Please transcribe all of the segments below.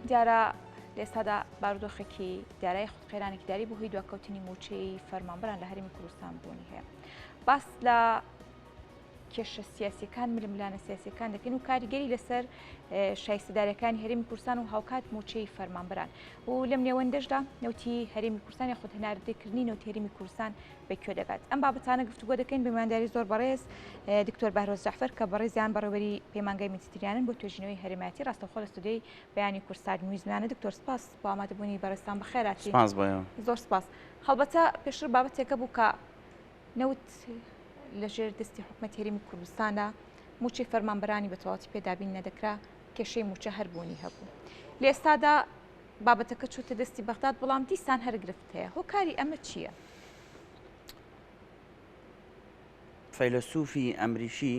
دیارە لەئێستادا بارودۆخێکی دیارای خود قەیرانێکی داری بۆ هۆی دواکەوتنی موچەی فەرمانبران لە هەرمی کوردستان بوونی هەیە باس لە کێشە سیاسەکان ململانە سیاسەکان دەکەن و کاریگەری لەسەر شایستەدارەکانی هەرمی کورسان و هاوکات موچەی فەرمانبران و لەم نێوەندەشدا نوتی هەرمی کورسانی خود هەناردەکردنی نوتێریمی کورسان بە کوێ دەگات؟ ئەم بابەتانە گفتوگۆ دەکەین بە میوانداری زۆر بەڕێز دکتۆر بەهرۆز جەعفەر کە بەڕێزیان بەڕێوەری پەیمانگای میدیتریانن بۆ توێژینەوەی هەرێمایەتی ڕاستەوخۆ لە ستۆدیۆی بەیانی کورسات نویزمانە دکتۆر سپاس بۆ ئامادەبوونی بەڕێزتان بەخێراتین سپاس بۆ ئێوە زۆر سپاس هەڵبەتە پێشتر بابەتێک هەبوو کە نەوت لەژێر دەستی حکومەت هەرێمی کوردستاندا موچەی فەرمانبەرانی بە تەواوەتی پێدابین نەدەکرا کێشەی موچە هەر بوونی هەبوو لە ئێستادا بابەتەکە چووتە دەستی بەغداد بەڵام دیسان هەر گرفت هەیە هۆکاری ئەمە چییە؟ فەیلەسوفی ئەمریکی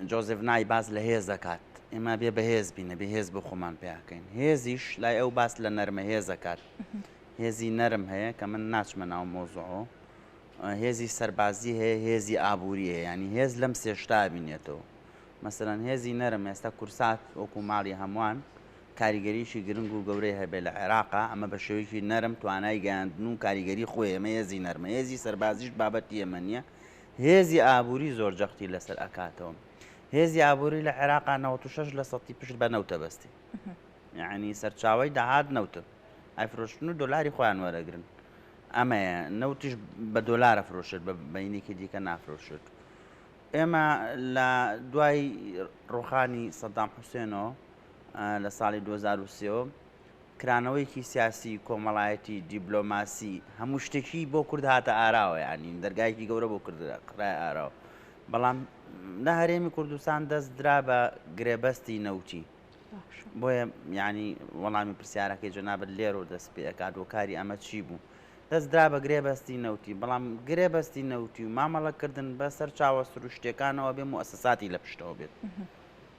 جۆزێف نای باس لە هێز دەکات ئێمە بێ بەهێز بینە بێ هێز بۆ خۆمان پێیاکەین هێزیش لای ئەو باس لە نەرمە هێزەکات هێزی نەرم هەیە کە من ناچمە ناو مۆزۆ هێزی سەربازی هەیە هێزی ئابووری هەیە ینی هێز لەم سێشتا بینێتەوە مەسەرەن هێزی نەرم ئێستا کورسات وەکو ماڵی هەمووان کاریگەریەکی گرنگ و گەورەی هەبێت لە عێراق ئەمە بە شێوەیەکی نەرم توانای گەیاندن و کاریگەری خۆی ئەمە هێزی نەرمە هێزی سەربازیش بابەتی ئێمە نیە هێزی ئابوری زۆر جەختی لەسەر ئەکاتەوە هێزی ئابوری لە عێراق 96 لە سەتی پشت بە نەوتە بەستی یعنی سەرچاوی داهات نەوتن ئەفرۆشتن و دۆلاری خۆیان وەرەگرن ئەمەیە نەوتیش بە دۆلارە فرۆشت بە بەینێکی دیکە نافرۆشت ئێمە لە دوای ڕۆخانی سەدام حوسێنەوە لە ساڵی دوو هەزار و سێ و کرانەوەیەکی سیاسی، کۆمەڵایەتی، دیبلۆماسی، هەموو شتێکی بۆ کورد هاتە ئاراوە یانی دەرگایەکی گەورە بۆ کورد قڕای ئاراوە بەڵام لە هەرێمی کوردستان دەست درا بە گرێبەستی نەوتی بۆیە یانی وەڵامی پرسیارەکەی جەنابەت لێر و دەست پێکات و کاری ئەمە چی بوو دەست درا بە گرێبەستی نەوتی بەڵام گرێبەستی نەوتی و مامەڵەکردن بە سەر چاوە سروشتەکانەوە بێ موسساتی لە پشتەوە بێت.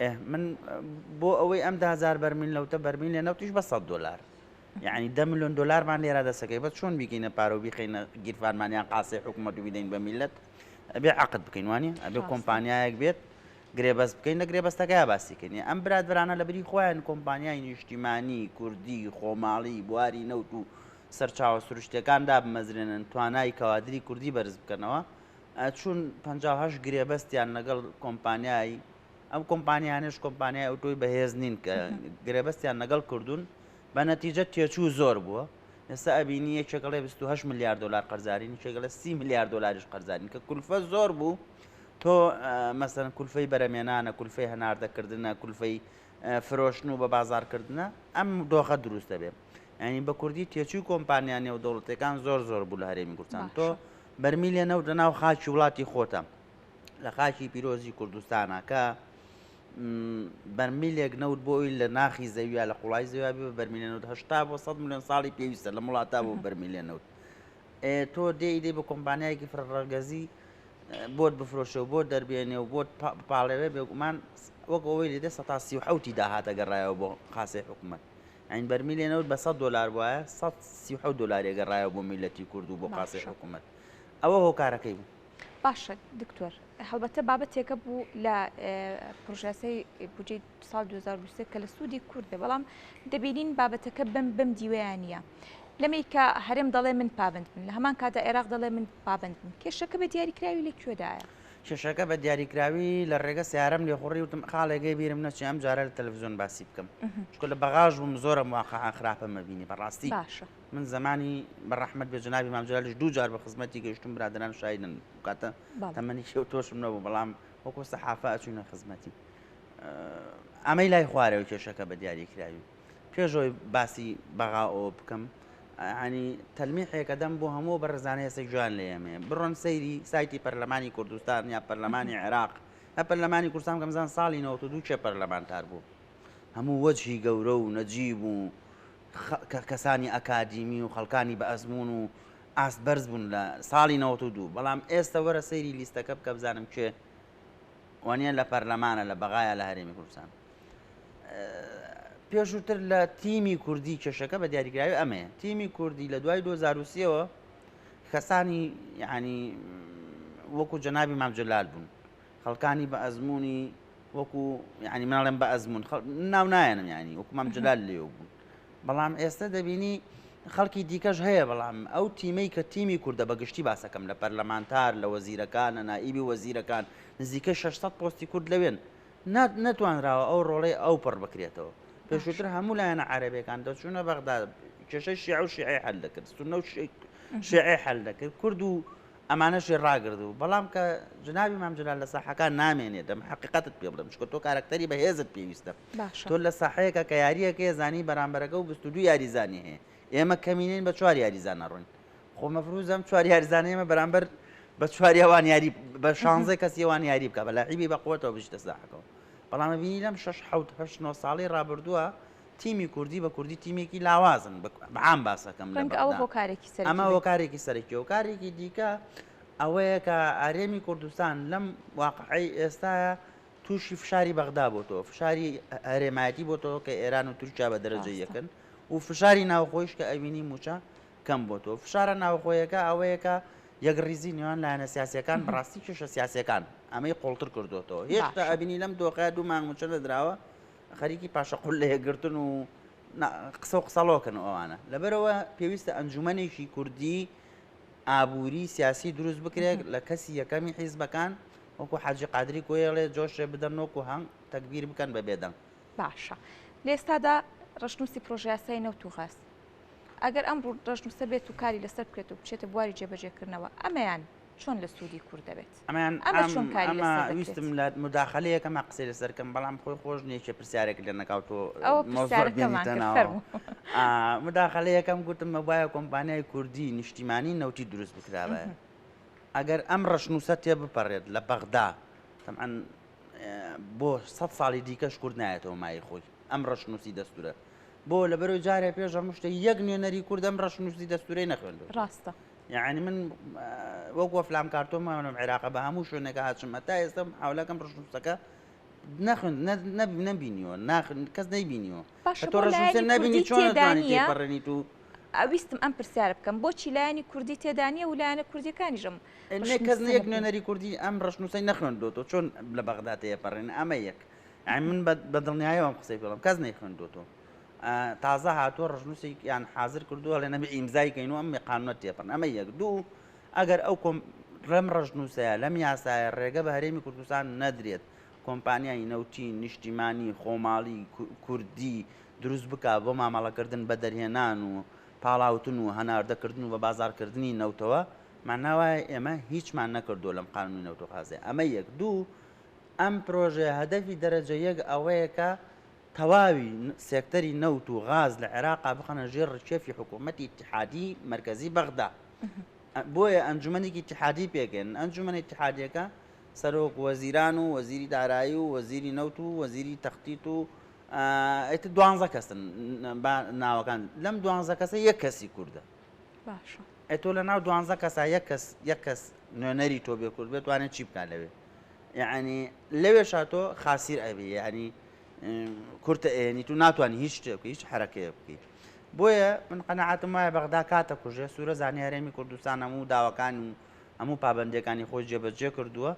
ئه من بۆ ئەوەی ئەم دهزار بەرمیل نەوتە بەرمیل لە نەوتیش بە سە دلار یعنی ده میلیۆن دلارمان لێرا دەسەکەی بە چۆن بیکەینە پارە و بیخینە گیرفانمانیان قاسەی حکوومەت و بدەین بە میلت ئەبێ عقد بکەین وانە ئەبێ کۆمپانیایەک بێت گرێبەز بکەین لە گرێبەستەکە باسیکردنی ئەم برادرانە لە بری خۆیان کۆمپانیای نیشتیمانی کوردی خۆماڵی بواری نەوت و سەرچاوە سروشتەکان دابمەزرێنن توانای کەوادری کوردی بەرز بکەنەوە چون پەنجا و هەشت گرێبەستیان لەگەڵ کۆمپانیای ئەم کۆمپانیانش کۆمپانیای ئەوتۆی بەهێز نین کە گرێبەستیان لەگەڵ کردوون بە نەتیجە تێچوو زۆر بووە ئێستا ئەبینی یەکێکڵێ 28 میلیارد دلار قەرزارین چێگەلە سی میلیارد دلاریش قەرزارین کە کولفە زۆر بوو تۆ مەسەن کولفەی بەرەمێنانە کولفەی هەناردەکردنە کولفەی فرۆشتن و بە بازارکردنە ئەم دۆخە دروستە بێت یانی بە کوردی تێچووی کۆمپانیا نێودەوڵەتەکان زۆر زۆر بوو لە هەرێمی کوردستان تۆ بەرمیلێ نەوت لە ناو خاکی وڵاتی خۆتە لە خاکی پیرۆزی کوردستانە کە بەرمیلێک نەوت بۆی لە ناخی زەویە لە قوڵای زەویا بە بەرمیلێ نەوت هشتا بۆ 100 میلیۆن ساڵی پێویستە لە وڵاتا بۆ بەرمیلێ نەوت تۆ دێ ئیدەی بە کۆمپانیایەکی فرڕەگەزی بۆت بفرۆشە و بۆ دەربێنێ و بۆت پاڵێوێ بێگومان وەک ئەوەی لێدە سە تا سی و حوتی داهاتە گەڕایەوە بۆ خاسی حکوومەت یانی بەرمیلێ نەوت بە سەد دۆلار بوایە سەد سی و حەوت دۆلاری گەڕایەوە بۆ میللەتی کورد و بۆ قاسی باشە. حکوومەت ئەوە هۆکارەکەی بوو باشە دکتۆر هەڵبەتە بابەتێکە بوو لە ئێ، پڕۆژەیاسای بودجەی ساڵ 2023 کە لە سوودی کورد بێ بەڵام دەبینین بابەتەکە بەم بەم دیوەیە نییە لەمەی کە هەرێم دەڵێ من پابەند بم لە هەمان کاتدا عێراق دەڵێ من پابەند بم کێشەکە بە دیاریکراوی لە کوێدایە کێشەکە بە دیاریکراوی لە ڕێگە سیارەم لێ خوڕی وتم خاڵێ گەی بیرم نەچێ ئەم جارە لە تەلەڤزیۆن باسی بکەم چکە لە بەغاژ بووم زۆرم واقعا خراپە مەبینی بەڕاستی باشە من زمانی بە ڕەحمەت بێ جنابی مامجلالش دوو جار بە خزمەتی گەشتم برادران شایدن کاتە تەمەنی شێو تۆشم نەبوو بەڵام وەکۆ سەحافە ئەچوینە خزمەتی ئەمەی لای خوارەوە کێشەکە بە دیاریکراوی پێش ئەوەی باسی بەغا ئۆ بکەم ینی تەلمیحێکە دەم بۆ هەموو بەڕزانە هێستا جوان لە ئێمێ بڕۆن سەیری سایتی پەرلەمانی کوردستان یا پەرلەمانی عێراق هە پەرلەمانی کوردستان کەمزان ساڵی نەوە دوو چێ پەرلەمانتار بوو هەموو وەجهی گەورە و نەجیب و کەسانی ئەکادیمی و خەڵکانی بە ئەزمون و ئاست بەرز بوون لە ساڵی نەوە دوو بەڵام ئێستا وەرە سەیری لیستەکە بکە بزانم کێ وانە لە پەرلەمانە لە بەغایە لە هەرێمی کوردستان پێشووتر لە تیمی کوردی کێشەکە بە دیاریگراوی ئەمەیە تیمی کوردی لە دوای 2023ەوە کەسانی ینی وەکو جەنابی مامجلال بوون خەڵکانی بە ئەزمموی وەکو ینی مناڵێن بە ئەزمون ناو نایەنم ینی وەکو مامجلال لێ بوون بەڵام ئێستا دەبینی خەڵکی دیکەش هەیە بەڵام ئەو تیمەی کە تیمی کووردە بە گشتی باسەکەم لە پەرلەمانتار لە وەزیرەکان لە نائیبی وەزیرەکان نزیکە 600 پۆستی کورد لەوێن نەتوانراوە ئەو ڕۆڵەی ئەو پڕ بکرێتەوە. پێشووتر هەموو لایەنە عەرەبەکان دەچوونە بەغدا کێشەی شیعە و شیعی حل دەکرد سنە و شیعی حل دەکرد کورد و ئەمانەشی ڕاگرد و بەڵام کە جناوی مامجلال لە ساحەکان نامێنێ دەم حقیقەتت پێ بڵم چکە تۆ کارکتەری بەهێزت پێویستە تۆ لە ساحەیەەکە کە یاریەکە زانی بەرامبەرەکە و بستو یاریزانی هەیە ئێمە کەمینین بە چوار یاریزانە ڕوون خۆ مەفروزە ئەم چوار یاریزانە ئێمە بەرامبەر بە چوار یاوان یاری بە شانزەی کەس یوان یاری بکە بە لاعیبی بە قوتەوە بشتە ساحەکەەوە بەڵام بینی لەم 6 9 ساڵی رابردووە تیمی کوردی بە کوردی تیمێکی لاوازن بەعام باسەکەم ئەمە هۆکارێکی سەرکی و کارێکی دیکە ئەوەیە کە ئارێمی کوردستان لەم واقعی ئێستا تووشی فشاری بەغدا بۆ تۆ فشاری هەرێمایەتی بۆ تۆ کە ئێران و تورکیا بە دەرەجە یەکن و فشاری ناوخۆیش کە ئەوینی موچە کەم بۆ تۆ فشارە ناوخۆیەکە ئەوەیە کە یەکڕیزی نێوان لایەنە سیاسەکان بەڕاستی کێشە سیاسەکان ئەمەی قوڵتر کردوێتەوە هێشتا ئەبینی لەم دۆخە دوو مانگ موچە نەدراوە خەریکی پاشەقل لە یەکگرتن و قسە و قسەڵۆکن ئەوانە لەبەرەوە پێویستە ئەنجومەنێکی کوردی ئابووری سیاسی دروست بکرێت لە کەسی یەکەمی حیزبەکان وەکو حاجی قادری کۆیڵێ جۆشێ بدەن وەکو هەنگ تەکبیر بکەن بە بێدەنگ باشە لێستادا ڕشنووسی پرۆژیاسای نەوت و غاز ئەگەر ئەم ڕەشنووسە بێت و کاری لەسەر بکرێت و بچێتە بواری جێبەجێکردنەوە، ئەمەیان چۆن لە سوودی کورد دەبێت؟ ئەمەیان ئەمە چۆن کاری لەسەر دەکرێت؟ ئەمە ویستم لە موداخەلەیەک ئەما قسەی لەسەر بکەم، بەڵام خۆی خۆش نییە کێ پرسیارێک لێ نەکا و تۆ مۆزوع بێنیتە ناو. فەرموو. موداخەلەیەکەم گوتم ئەبوایە کۆمپانیای کوردی نیشتیمانی نەوتی دروست بکرابایە، ئەگەر ئەم ڕەشنووسە تێبپەڕێت لە بەغدا، تەبعەن بۆ سەد ساڵی دیکەش کورد نایەتەوە مایەی خۆی، ئەم ڕەشنووسی دەستوورە بۆ لەبەرو جارێ پێش هەموو شتێک یەک نوێنەری کورد ئەم ڕەشنووسی دەستورەی نەخوێندوە ڕاستە یعنی من وەک وەفلام کارتۆمانم عێراقە بە هەموو شوێنەکە هاچمە تا ئێستا حولەکەم ڕشنووسەکە نەخن نەبینیوە ناخن کەس نەیبینیوە تۆ ڕشنووسە نەبینی چۆن دانیە بەڕێنی تو ئەویستم ئەم پرسیار بکەم بۆچی لایەنی کوردی تێدانە و لایەنە کوردیەکانیشم کەس نەیەک نوێنەری کوردی ئەم ڕشنووسی نەخوێندۆ تۆ چۆن لە بەغداتەیە پەڕێن ئەمە یەک یانی من بە دڵنیایەوە ئەم قسەی پێ دەڵێم کەس نەیخوێندووەتەوە تازە هاتووە ڕژنووسێکیان حازر کردو هەڵێ نەبێ ئیمزای کەین و ئەم قانونە تێپەن ئەمە یەک دوو ئەگەر ئەو کۆم ڕێم ڕژنووسەیە لەم یاسایە ڕێگە بە هەرێمی کوردستان نەدرێت کۆمپانیای نەوتی نیشتیمانی خۆماڵی کوردی دروست بک بۆ مامەڵەکردن بە دەرهێنان و پاڵاوتن و هەناردەکردن و بە بازارکردنی نەوتەوە ماناوایە ئێمە هیچمان نەکردو لەم قانونی نەوتۆخازێ ئەمە یەک دوو ئەم پرۆژەیە هەدەفی دەرەجە یەک ئەوەیە کە تەواوی سێکتەری نەوت و غاز لە عێراقا بخەنە ژێر ڕشێفی حکوومەتی اتحادی مرکزی بەغدا بۆیە ئەنجومەنێکی اتحادی پێکێن ئەنجومەنی اتحادیەکە سەرۆک وەزیران و وەزیری دارایی و وەزیری نەوت و وەزیری تەختیت و ئەیتە دوانزە کەسن ناوەکان لەم دوانزە کەسە یەک کەسی کووردە باشە ئەی تۆ لە ناو دوانزە کەسا یەک کەس یەک کەس نوێنەری تۆ بێ کورد بێت وانێ چی بکات لەوێ یعنی لەوێ شاتۆ خاسیر ئەبی ینی کورتە ئێنی تو ناتوانانی هیچ شتێ بکە هیچ حرەکەیە بکەیت بۆیە من قەنەعاتم وایە بەغدا کاتە کوژێ سوورە زانانی هەرێمی کوردستان هەموو داواکان و هەموو پابندەکانی خۆی جێبەجێ کردووە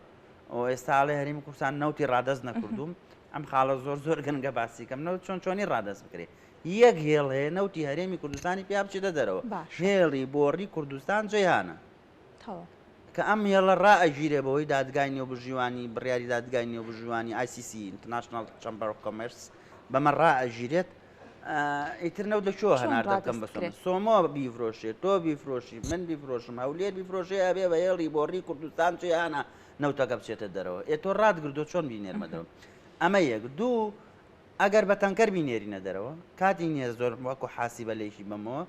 ئەو ئێستاڵێ هەرمی کوردستان نەوتی ڕادەست نەکردوم ئەم خاڵە زۆر زۆر گەنگە باسیکەم نەوت چۆن چۆنی ڕادەست بکرێت یەک هێڵ هەیە نەوتی هەرێمی کوردستانی پێیا بچێتە دەرەوە هێڵی بۆڕی کوردستان جیهانە کە ئەم هێڵە ڕائەگیرێ بەوەی دادگای نێو بژیوانی بڕیاری دادگای نێو بژیوانی ICC International Chamber of Commerce بەمە ڕائەگیرێت ئیتر نەوت لە چۆ هەنار دەکەم بە سۆمۆ بیفرۆشێت تۆ بیفرۆشی من بیفرۆشم هەولێر بیفرۆشێ ئەبێ بە هێڵی بۆڕی کوردستان جیانە نەوتەکە بچێتە دەرەوە ئێ تۆ ڕاتگردۆ چۆن بینێرمەدەوە ئەمە یەک دوو ئەگەر بە تەنکەر بینێرینە دەرەوە، کاتی نییە زۆر وەکو حاسیبە لێکی بەمەوە،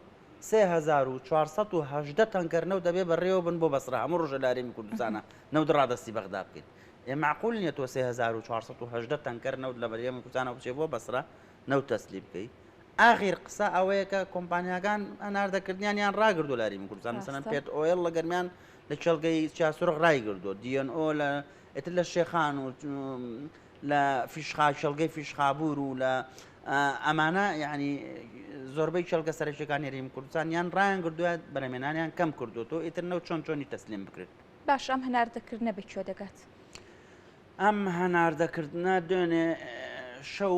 سێ هەزار و چوار سەد و هەژدە تەنکەر نەوت دەبێ بەڕێوە بن بۆ بەسڕە، هەموو ڕۆژێ لە هەرێمی کوردستانا نەوت ڕادەستی بەغدا بکەین. ئێ مەعقول نییە تۆ سێ هەزار و چوار سەد و هەژدە تەنکەر نەوت لە هەرێمی کوردستانەوە بچێ بۆ بەسڕە نەوت تەسلیم بکەی. ئاخیر قسە ئەوەیە کە کۆمپانیاکان هەناردەکردنیانیان ڕاگردووە لە هەرێمی کوردستان، مەسەلەن پێت ئۆیڵ لە گەرمیان لە کێڵگەی چیاسورخ ڕایگردووە، دی ئێن ئۆ لە ئیتر لە شێخان و لە فیشخا کێڵگەی فیشخابور و لە ئەمانە یعنی زۆربەی کێڵگە سەرەکیەکانی ریم کوردستان یان ڕایان گردووە بەرەمێنانیان کەم کردو تۆ ئیتر نەو چۆن چۆنی تەسلیم بکرێت باش ئەم هەناردەکردنە بە کوێ دەگات ئەم هەناردەکردە دوێنێ شەو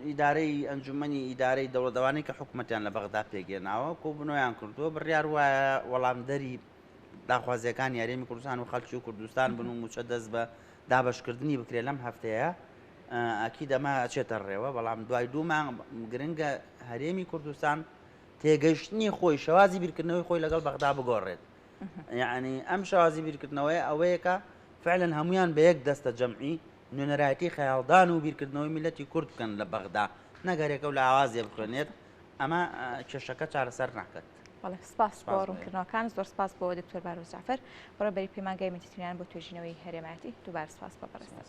ئیدارەی ئەنجومی ئیدارەی دەوڵەدەوانی کە حکوومەتیان لە بەغدا پێگەێناوە کۆ بنۆیان کردووە بڕیار وایە وەڵامدەری داخوازیەکان یاریمی کوردستان و خەلکی و کوردستان بن و موچە دەست بە دابەشکردنی بکرێت لەم هەفتەیە ئەکید ئەمە ئەچێتە ڕێوە بەڵام دوای دوو مانگ گرنگە هەرێمی کوردستان تێگەیشتنی خۆی شێوازی بیرکردنەوەی خۆی لەگەڵ بەغدا بگۆڕێت یعنی ئەم شێوازی بیرکردنەوەی ئەوەیەکە فعلەن هەمویان بە یەک دەستە جەمعی نوێنەرایەتی خەیاڵدان و بیرکردنەوەی میلەتی کورد بکەن لە بەغدا نەگەرێکە و لە ئاوازێ بخوێنێت ئەمە کێشەکە چارەسەر ناکەن بێت. بەڵێ سپاس بۆ ڕوونکردنەوەکان، زۆر سپاس بۆ دکتۆر باروز جەعفەر، بەڕێوەبەری پەیمانگای مدیتریان بۆ توێژینەوەی هەرێمایەتی، دووبارە سپاس بۆ بەڕێزتان.